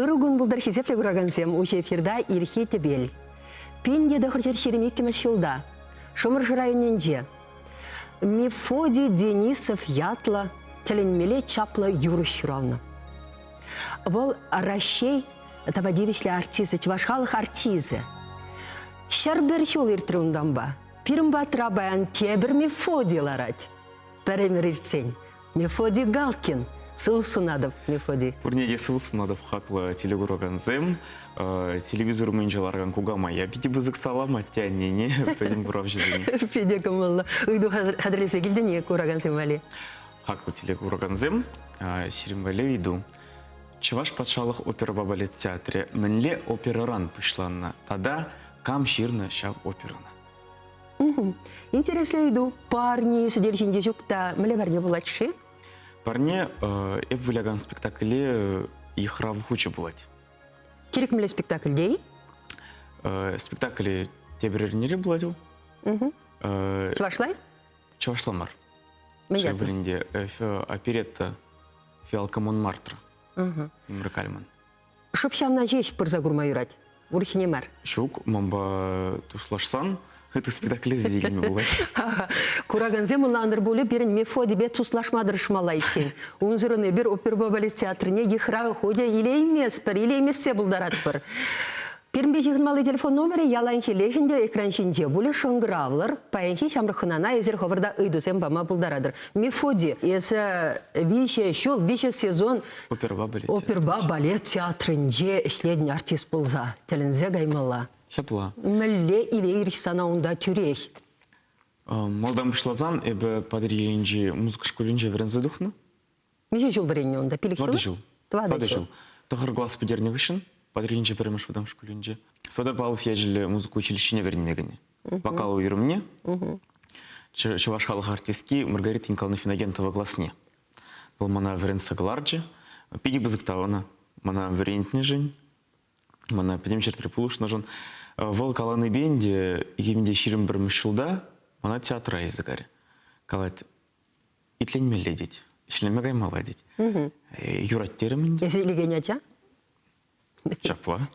Ырӑ кун пултӑр хисеплӗ куракансем, уҫӑ эфирта Ирхи тӗпел. Пин тӑхӑр ҫӗр ҫирӗм иккӗмӗш ҫулта Шӑмӑршӑ районӗнче Мефодий Денисов ятлӑ тӗлӗнмелле чаплӑ юрӑҫ ҫуралнӑ. Вӑл Раҫҫей тава тивӗҫлӗ артисчӗ, чӑваш халӑх артисчӗ. Ҫӗр пӗр ҫул иртрӗ унтанпа. Пирӗн патра паян тепӗр Мефодий ларать. Пӗр ӗмӗр иртсен Мефодий Галкин сывӑх сунатӑп, Мефодий. Пурне те сывӑх сунатӑп хаклӑ телекуракансем. Телевизор умӗнче ларакан кукамая питӗ пысӑк салам атте-аннене, пӗтӗм куравҫӑсене. Питӗ кӑмӑллӑ ыйту хатӗрлесе килтӗн-и куракансем валли? Хаклӑ телекуракансем, сирӗн валли ыйту. Чӑваш патшалӑх оперӑпа балет театрӗ мӗнле оперӑран пуҫланнӑ тата кам ҫырнӑ ҫав оперӑна? Интереслӗ ыйту. Парне сӗтел ҫинче ҫук та мӗнле парне пулать-ши? Парне эп вылякан спектакле йыхрав хучӗ пулать. Кирек мӗнле спектакльте-и? Спектакле тепӗр эрнере пулать вӑл. Чӑвашлай? Чӑвашла мар. Мӗн Вӗренде оперетта фиалка Монмартра. Умра кальман. Шӑп ҫавна ҫеҫ пырса курма юрать, урӑххине мар. Ҫук, манпа туслашсан ытти спектакле сикӗнме пулать. Куракансем ӑнлантӑр пулӗ, пирӗн Мефодипе туслашма тӑрӑшмалла иккен. Унсӑрӑн эпир оперпа балет театрне йыхрав хутӗ илейместпӗр, илеймессе пултаратпӑр. Пирӗнпе ҫыхӑнмалли телефон номерӗ ял лайӑххиллех ӗнтӗ, экран ҫинче пулӗ, шӑнкӑравлӑр. Паянхи ҫамрӑк хӑнана эсир хӑвӑрта ыйтусем пама пултаратӑр. Мефодий, эсӗ виҫӗ ҫул, виҫӗ сезон оперӑпа балет, оперӑпа балет театрӗнче ӗҫлетӗн артист пулса. Тӗлӗнсе каймалла. Ҫапла. Мӗнле иле-ирӗх сана унта тӳрех? Малтан пуҫласан эпӗ Патӑрьелӗнчи музыка шкулӗнче вӗренсе тухнӑ. Миҫе ҫул вӗреннӗ унта? Пилӗк ҫул? Тӑватӑ ҫул. Тӑватӑ ҫул. Тӑхӑр класс пӗтернӗ хыҫҫӑн Патӑрьелӗнчи пӗрремӗш вӑтам шкулӗнче Федор Павлов ячӗллӗ музыка училищине вӗренме кӗнӗ. Вокал уйрӑмне чӑваш халӑх артистки Маргарита Николаевна Финогентова класне. Вӑл мана вӗрентсе кӑларчӗ. Питӗ пысӑк та ӑна. Мана вӗрентнӗшӗн, мана пӗтӗм ҫӗртре пулӑшнӑшӑн. Э, вӑл каланипен те, икӗ мӗн те ҫирӗм пӗрмӗш ҫулта мана театра языкарь калать. Итленмелле тет, ӗҫлеме каймалла тет. Юрать терӗм ӗнтӗ. Эсӗ илекен ача? Ҫапла.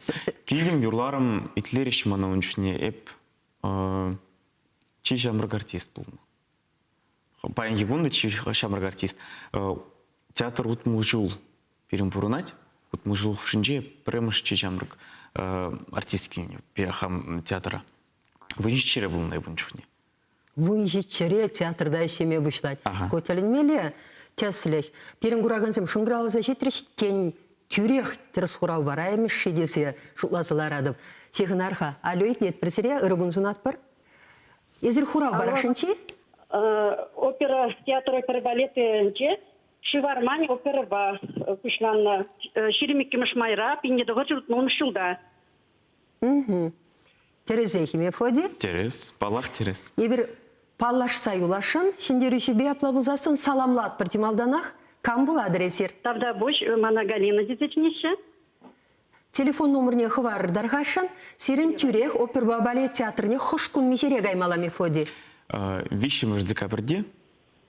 Килтӗм, юрларӑм, итлерӗҫ мана ун чухне. Эп чи ҫамрӑк артист пулнӑ. Паянхи кун та чи ҫамрӑк артист. Театр утмӑл ҫул пирӗн пурӑнать. Утмӑл ҫул хушшинче пӗрремӗш чи ҫамрӑк артист килнӗ хам театра. Вӗренчӗкҫӗре пулнӑ эп ун чухне. вунҫӗ чӗре театрта ӗҫлеме пуҫлать. Ку тӗлӗнмелле тӗслӗх. Пирӗн куракансем шӑнкӑравласа ҫитрӗҫ тен, тӳрех тӗрӗс хурав пара имӗш-ши тесе шутласа ларатӑп. Ҫыхӑнар-ха, алло итлет пӗр сире, ырӑ кун сунатпӑр. Эсир хурав парасшӑнчи? Опера театрӗ пӗр балетӗнче Шывармань оперӑпа пуҫланнӑ. Ҫирӗм иккӗмӗш майра пинне тӑхӑр ҫуртмун ҫулта. Тӗрӗсех, Ефоди. Тӗрӗс, паллах, тӗрӗс. Эпир паллашса юласшӑн, ҫӗнтерӳҫӗпе апла пулсассӑн саламлатпӑр те малтанах. Кам пулатӑр эсир? Тавтапуҫ, мана Галина тесе чӗнеҫҫӗ. Телефон номерне хӑварӑр-тӑр-хашшӑн. Сирӗн тӳрех оперпа балет театрне хӑш кун миҫере каймалла, Мефоди? Виҫҫӗмӗш декабрьте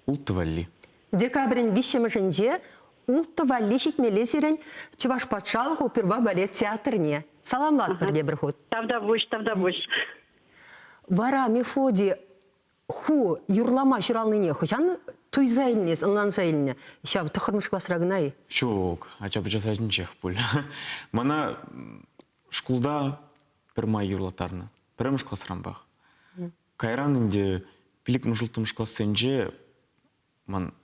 Улттӑ валли. Декабрӗн виҫҫӗмӗшӗнче Улттӑ валли ҫитмелле сирӗн Чӑваш патшалӑх опера балет театрне. Саламлатпӑр тепӗр хут. Тавтапуҫ, тавтапуҫ. Вара Мефодий ху юрлама ҫуралнине хӑҫан туйса илнис, ӑнланса илнӗ ҫав тӑххӑрмӗш класра кӑна-и? Ҫук, ача-пӑча сачӗнчех пуль. Мана шкулта пӗрмай юрлаттарнӑ. Пӗрремӗш класранпах. Кайран ӗнтӗ пилӗкмӗш улттӑмӗш классенче ман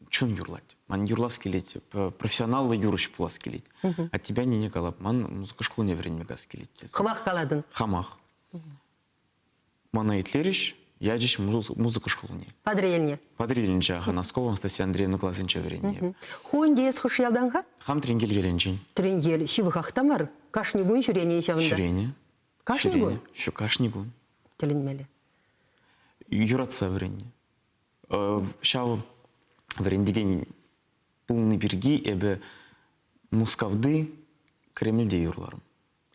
чун юрлать. Ман юрлас килет, профессионаллӑ юрӑҫ пулас килет. А тебя нине калап, ман музыка шкулне вӗренме кас килет тесе. Хӑмах калатӑн? Хамах. Мана итлерӗҫ, ячӗҫ музыка шкулне. Патӑрьелне? Патӑрьелӗнче, Носкова Анастасия Андреевна класӗнче вӗреннӗ. Ху ӗнтӗ эс хӑш ялтан-ха? Хам Тренкел ялӗнчен. Тренкел ҫывӑхах та мар, кашни кун ҫӳренӗ-и ҫавӑнта? Ҫӳренӗ. Кашни кун? Ҫук, кашни кун. Тӗлӗнмелле. Юратса вӗреннӗ. Ҫав вӗрентекен пулни пирки эпӗ Мускавти Кремльте юрларӑм.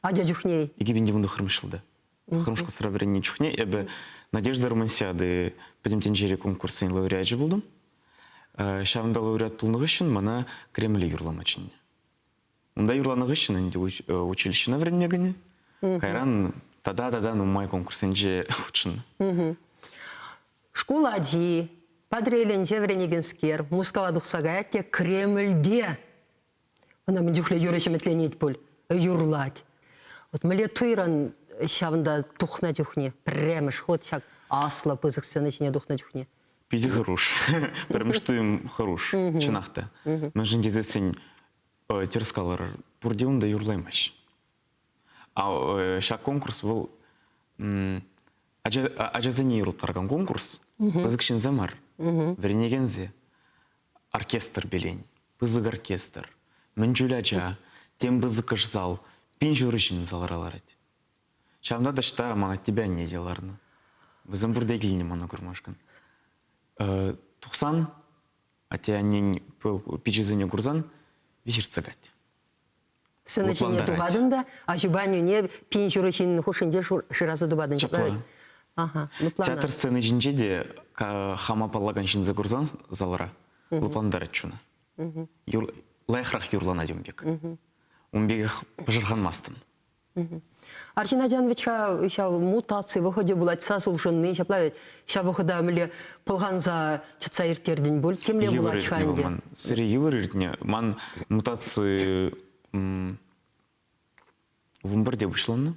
Ача чухне? 2019 ҫулта. Хырӑмшкасра вӗреннӗ чухне эпӗ Надежда Романсиады пӗтӗм тӗнчери конкурсӗн лауреачӗ пултӑм. Ҫавӑнта лауреат пулнӑ хыҫҫӑн мана Кремле юрлама чӗннӗ. Унта юрланӑ хыҫҫӑн ӗнтӗ училищӗна вӗренме кӗнӗ. Кайран тата-тата нумай конкурссенче хутшӑннӑ. Шкул ачи, Патӑрьелӗнче вӗренекенскер, Мускава тухса каять те Кремльте. Ӑна мӗн чухлӗ юрӑ ҫӗмӗтленет пуль, юрлать. Вот мӗнле туйран ҫавӑнта тухнӑ чухне, пӗрремӗш хут ҫак аслӑ пысӑк сцена ҫине тухнӑ чухне. Питӗ хӑруш. Пӗрремӗш туйӑм хӑруш, чӑнах та. Мӗншӗн тесессӗн терӗс калар, пурте унта юрлаймаҫҫӗ. Ҫак конкурс вӑл ачасене юрлаттаракан конкурс, пысӑк ҫынсем мар, вӗренекенсем. Оркестр пелен, пысӑк оркестр, мӗн чуль ача, тем пысӑкӑш зал, пин ҫурӑ ҫын залра ларать. Ҫавӑнпа таҫта ман атте анне те ларнӑ. Вӗсем пурте килнӗ мана курмашкӑн. Тухсан Атте-аннен пичӗсене курсан виҫ ыртсакать. Сыны ҫине тухатӑн та аҫупа аннӳне пин ҫурӑ ҫыннин хушшинче шыраса тупатӑн. Ҫапла. Ну, Театр сцени ҫинче те хама паллакан ҫынса курсан залра лӑплантарать чуна. Лайӑхрах юрланать ун пек. Ун пекех пӑшӑрханмастӑн. Арҫын ачан вӗт-ха ҫав мутаци вӑхӑчӗ пулать, сас улшӑнни ҫапла вӗт. Ҫав вӑхӑта мӗнле пӑлханса чӑтса ирттертӗн пуль, темле пулать-ха ӗнтӗ. Сире йывӑр иртнӗ. Ман мутаци вымпӗрте пуҫланнӑ.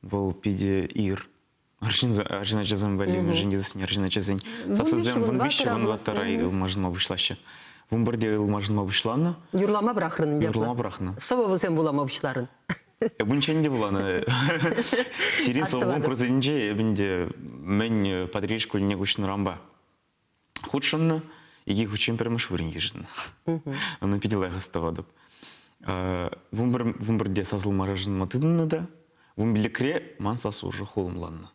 Вӑл питӗ ир. Арҫын, арҫын ачасем валли, мӗншӗн тесен арҫын ачасен сассисем вун виҫҫӗ, вун ваттӑра ылмашӑнма пуҫлаҫҫӗ. Вун пӗрте ылмашӑнма пуҫланӑ. Юрлама пӑрахрӑн ӗнтӗ. Юрлама пӑрахнӑ. Сӑвӑ вӗсем вулама пуҫларӑн. Эп унччен те вуланӑ. Сире сӑвӑ конкурсӗнче эпӗ ӗнтӗ мӗн Патриль шкулне куҫнӑранпа хутшӑннӑ. Икӗ хутчен пӗрмӗш вырӑн йышӑннӑ. Ӑна питӗ лайӑх астӑватӑп. Вумбарде сасӑлма шӑнма тытӑннӑ та вумбиликре ман сассу уже хулӑмланнӑ.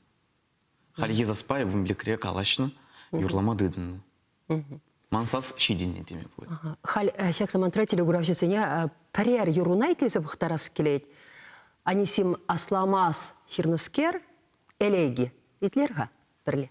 Хальхи саспай вумбиликре калаҫнӑ, юрлама тытӑннӑ. Ман сас ҫитӗннӗ теме пулать. Халь ҫак самантра телекуравҫӑсене пӗрер юрруна итлесе пӑхтарас килет. Анисим асламас ҫырнӑскер, элейги итлер-ха пӗрле.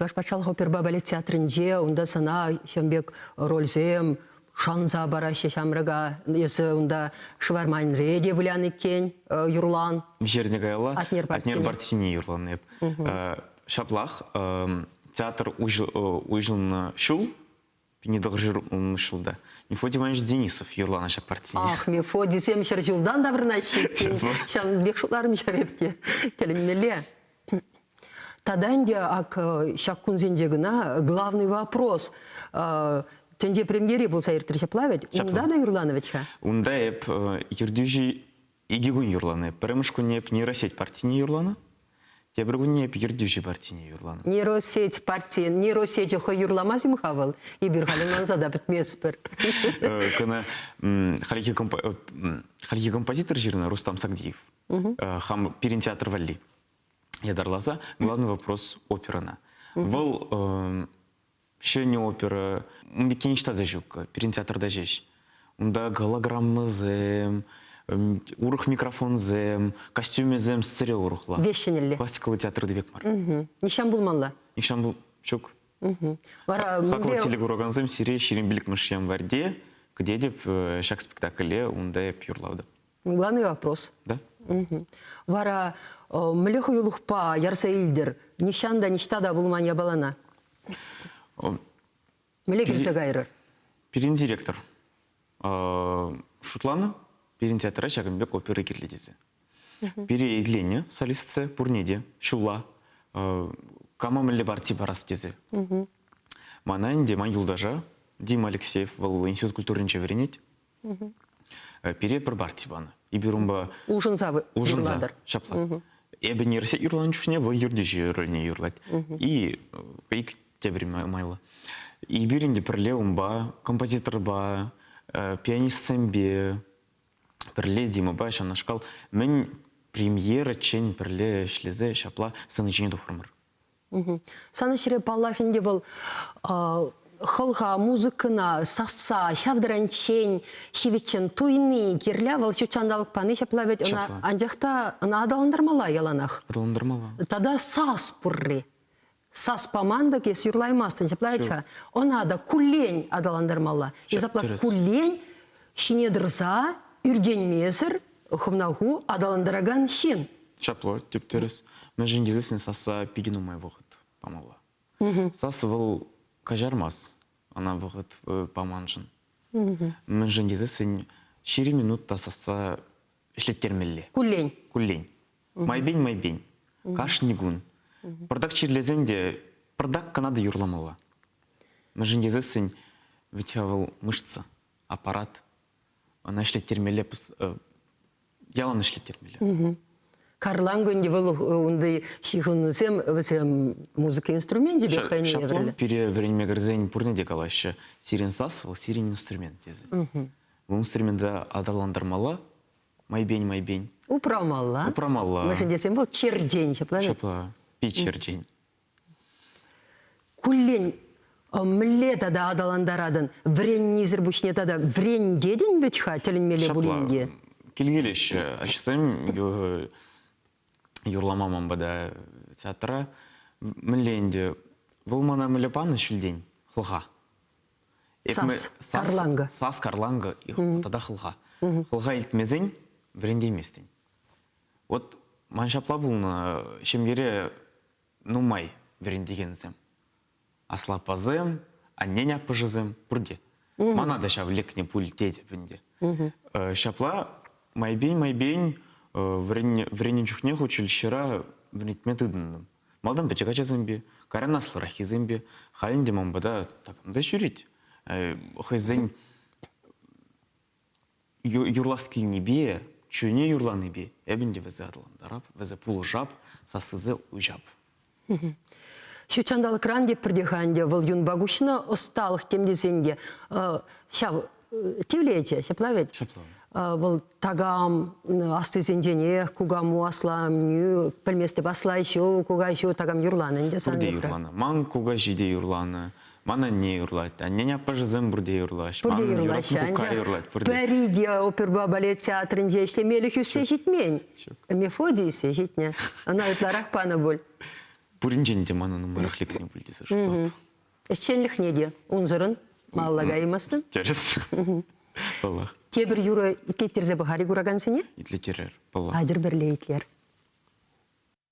Чӑваш патшалӑх опера балет театрӗнче унта сана ҫын пек рольсем шанса параҫҫӗ ҫамрӑка. Эсӗ унта шварманре те вылян иккен, э, юрлан. Ҫӗрне каялла Атнер Бартини юрланӑ эп. Ҫаплах эм, театр уҫӑлнӑ ҫул Пине тӑхӑрҫӗр ҫулта. Мефодий Иванович Денисов юрланӑ ҫак партине. Ах, Мефодийсем ҫӗр ҫултан таврӑнаҫҫӗ иккен. Ҫавӑн пек шутларӑм ҫав эпте. Тӗлӗнмелле. Тата ӗнтӗ ак ҫак кунсенче кӑна главный вопрос тӗнче премьери пулса иртрӗ ҫапла вӗт? Унта та юрланӑ вӗт-ха? Унта эп ертӳҫӗ Икӗ кун юрланӑ. Пӗрремӗш кунне Нейросеть партине юрланӑ. Тепӗр кунне эп Ертӳҫӗ партине юрланӑ. Нейросеть партийӗн нейросечӗ хӑй юрламасть-им-ха вӑл? Эпир халӗ манса та пӗтместпӗр. Кӑна хальхи композитор ҫырнӑ Рустам Сагдиев. Хам пирӗн театр валли ятарласа главный вопрос оперӑна. Вӑл Ҫӗнӗ опера иккен ниҫта та ҫук пирӗн театрта ҫеҫ. Унта голограммӑсем, урӑх микрофонсем, костюмӗсем сире урӑхла. Веҫ ҫӗнӗлле. Классикаллӑ театрта пек мар. Нихҫан пулмалла. Нихҫан пул ҫук. Вара хаклӑ телекуракансем сире ҫирӗм пилӗкмӗш январьте кӗтетӗп ҫак спектакле унта эп юрлавдӑм. Главный вопрос. Да. Угу. Вара э, мле хуйлухпа ярса илдер нихҫан та ниҫта та пулман япалана. Мле килсе кайрӑр. Пирин директор шутланӑ пирин театра ҫакӑн пек опера кирлӗ тесе. Пире илене солистце пурне те ҫулла кама мӗнле парти парас тесе. Мана ӗнтӗ ман юлташа Дима Алексеев вӑл институт культуринче вӗренет. Пире пӗр парти панӑ. Эпир унпа... Улшӑнса юрлатӑр. Ҫапла. Эпӗ не юрланӑ юрланӑ чухне вӑл ертӳҫӗ рольне юрлать. И пейк тепӗр майлӑ. Эпир ӗнтӗ пӗрле унпа, композиторпа, пианистсемпе, пӗрле Димӑпа ҫавнашкал мӗн премьераччен пӗрле ӗҫлесе ҫапла сцена ҫине тухрӑмӑр. Сан ӗҫре, паллах, ӗнтӗ вӑл хӑлха, музыкӑна сасса, ҫав тӗренчен ҫивӗччӗн туйни кирлӗ. Вӑл ҫут ҫанталӑк пани ҫапла вӗт. Ӑна анчах та ӑна аталантармалла яланах. Аталантармалла. Тата сас пурри. Сас паман та эс юрлаймастӑн, ҫапла вӗт-ха. Ӑна та куллен аталантармалла. И запла куллен ҫине тӑрса ӳркенмесӗр хӑвна-ху аталантаракан ҫын. Чапло, тӗп-тӗрӗс. Мӗншӗн тесен сасса питӗ нумай вӑхӑт памалла. Сасӑ вӑл каҫармасть ӑна вӑхӑт паманшӑн. Мӗншӗн тесен ҫирӗм минут та сасса ӗҫлеттермелле. Куллен. Куллен. Майпен майпен. Кашни кун. Пӑртак чирлесен те пӑртак кӑна та юрламалла. Мӗншӗн тесен ведь вӑл мышца, аппарат, Ӑна ӗҫлеттермелле ялан ӗҫлеттермелле. Карлан кунде вӑл унти ҫыхӑнусем вӗсем музыка инструменчӗ пек хӑйне Шаплан пире вӗренме кӗрсен пурне те калаҫҫӗ. Сирен сас вӑл сирен инструмент тесе. Вӑл инструмента аталантармалла, майпен майпен. Упрамалла. Упрамалла. Мӗшӗн тесен вӑл чертен ҫапла. Ҫапла. Пит чертен. куллен мӗнле тата аталантаратӑн вӗреннисӗр пуҫне тата вӗрентетӗн вӗт-ха тӗлӗнмелле пулин те килкелеҫҫӗ ачасем юрлама ман пата театра мӗнле ӗнтӗ вӑл мана мӗнле панӑ ҫӳлтен хӑлха сас карланга сас карланга тата хӑлха хӑлха илтмесен вӗрентейместӗн вот ман ҫапла пулнӑ ҫемьере нумай вӗрентекенсем. Аслӑ аппасем, аннен аппӑшӗсем пурте. Мана та ҫав лекнӗ пуль тетӗп ӗнтӗ. Ҫапла майпен-майпен вӗреннӗ чухне училищӗра вӗрентме тытӑнтӑм. Малтан пӗчӗк ачасемпе, кайран аслӑраххисемпе. Халь ӗнтӗ ман пата такам та ҫӳрет. Хӑйсен юрлас килнипе, чунӗ юрланипе эпӗн те вӗсе аталантарап, вӗсе пулӑшап, сассисе уҫап. Ҫутҫанталӑкран те пӗртех ӗнтӗ вӑл юнпа куҫнӑ ӑсталӑх тем тесен те ҫав тивлечӗ, ҫапла вӗт? Ҫапла. Вӑл такам аслисенченех кукаму асламнӳ, пӗлместӗп аслай ҫу, кукай ҫу, такам юрланӑ ӗнтӗ сан Ку те юрланӑ. Ман кукаҫи те юрланӑ. Ман анне юрлать, аннен аппӑшӗсем пурте юрлаҫ. Пурте Манӑн юрлаҫҫӗ, анчах пӗри те оперӑпа балет театрӗнче ӗҫлемелӗх ӳссе ҫитмен. Нефоди ӳссе ҫитнӗ. Ӑна ытларах панӑ пуль. Пуринчен те манӑн нумаях лекнӗ пуль тесе шутлатӑп. Ӗҫченлӗхне те унсӑрӑн малалла каймастӑн. Тӗрӗс. Паллах. Тепӗр юрӑ итлеттерсе пӑхар-и куракансене? Итлеттерер, паллах. Атьӑр пӗрле итлер.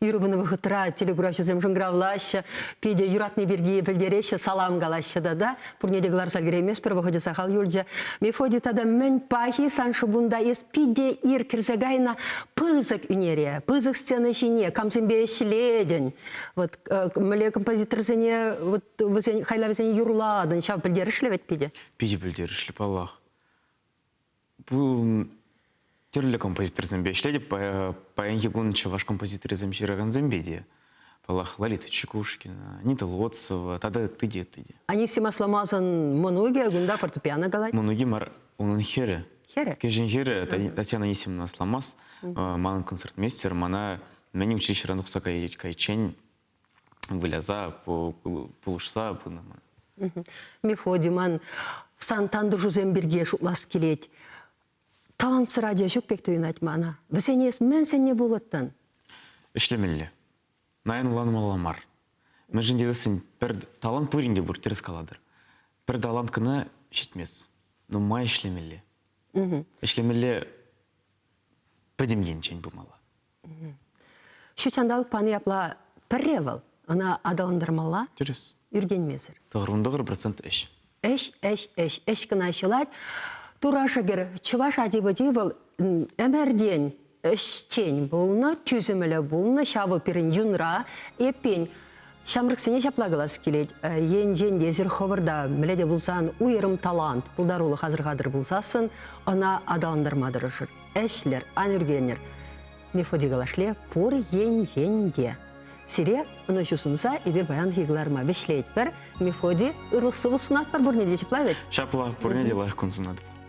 Юрӑ пынӑ вӑхӑтра телекуравҫӑсем шӑнкӑравлаҫҫӗ, питӗ юратни пирки пӗлтереҫҫӗ, салам калаҫҫӗ тата. Пурне те кӑларса кӗреймест, пӗр вӑхӑчӗ сахал юлчӗ. Мефодий тата мӗн пахи сан шӑпунта, эс питӗ ир кӗрсе кайнӑ пысӑк ӳнере, пысӑк сцена ҫине камсемпе ӗҫлетӗн, вот э, мӗнле композиторсене, вот вӗсен хайлавӗсене юрлатӑн, ҫав пӗлтерӗшлӗ вӗт питӗ? Питӗ пӗлтерӗшлӗ, паллах. тӗрлӗ композиторсемпе ӗҫлетӗп. Паянхи кун чӑваш композиторӗсем ҫыракансемпе те. Паллах, Лолита Чекушкина, Анита Лоцова тата ытти те ытти те. Анисим Асламасӑн мӑнукӗ кунта фортепиано калать. Мӑнукӗ мар, унӑн хӗрӗ. Хӗрӗ? Кӗҫӗн хӗрӗ Татьяна Анисимовна Асламас, манӑн концертмейстер, мана мӗн училищӑран тухса кайиччен выляса, пулӑшса пынӑ ман. Мефодиман, сан тантӑшусем пирки шутлас килет. Талантсӑр ача ҫук пек туйӑнать мана. Вӗсене эс мӗн сӗннӗ пулӑттӑн? Ӗҫлемелле. Наянланмалла мар. Мӗншӗн тесен пӗр талант пурин те пур, тӗрӗс калатӑр. Пӗр талант кӑна ҫитмест. Нумай ӗҫлемелле. Ӗҫлемелле пӗтӗм енчен пымалла. Ҫут ҫанталӑк пани апла пӗрре вӑл, ӑна аталантармалла. Тӗрӗс. Ӳркенмесӗр. Тӑхӑрмӑн тӑхӑр процент ӗҫ. Ӗҫ, ӗҫ, ӗҫ, ӗҫ кӑна ҫӑлать. Тура шӗкӗр чӑваш ачи-пӑчи вӑл ӗмӗртен ӗҫчен пулнӑ, тӳсӗмлӗ пулнӑ. Ҫавӑ пирӗн юнра. Эппин, Ҫамрӑксене ҫапла калас килет, енчен те эсир хӑвӑрта мӗнле те пулсан уйрӑм талант, пултарулӑх асӑрхатӑр пулсассӑн, ӑна аталантарма тӑрӑшӑр, ӗҫлӗр, ан ӳркенӗр. Мефодикала шле пур енчен те. Сире ӑнӑҫу сунса эпир паянхи кӑларӑма вӗҫлетпӗр. Мефоди, ырлӑх-сывлӑх сунатпӑр, пурне те ҫапла вӗт? Ҫапла, пурне те лайӑх кун сунатӑп.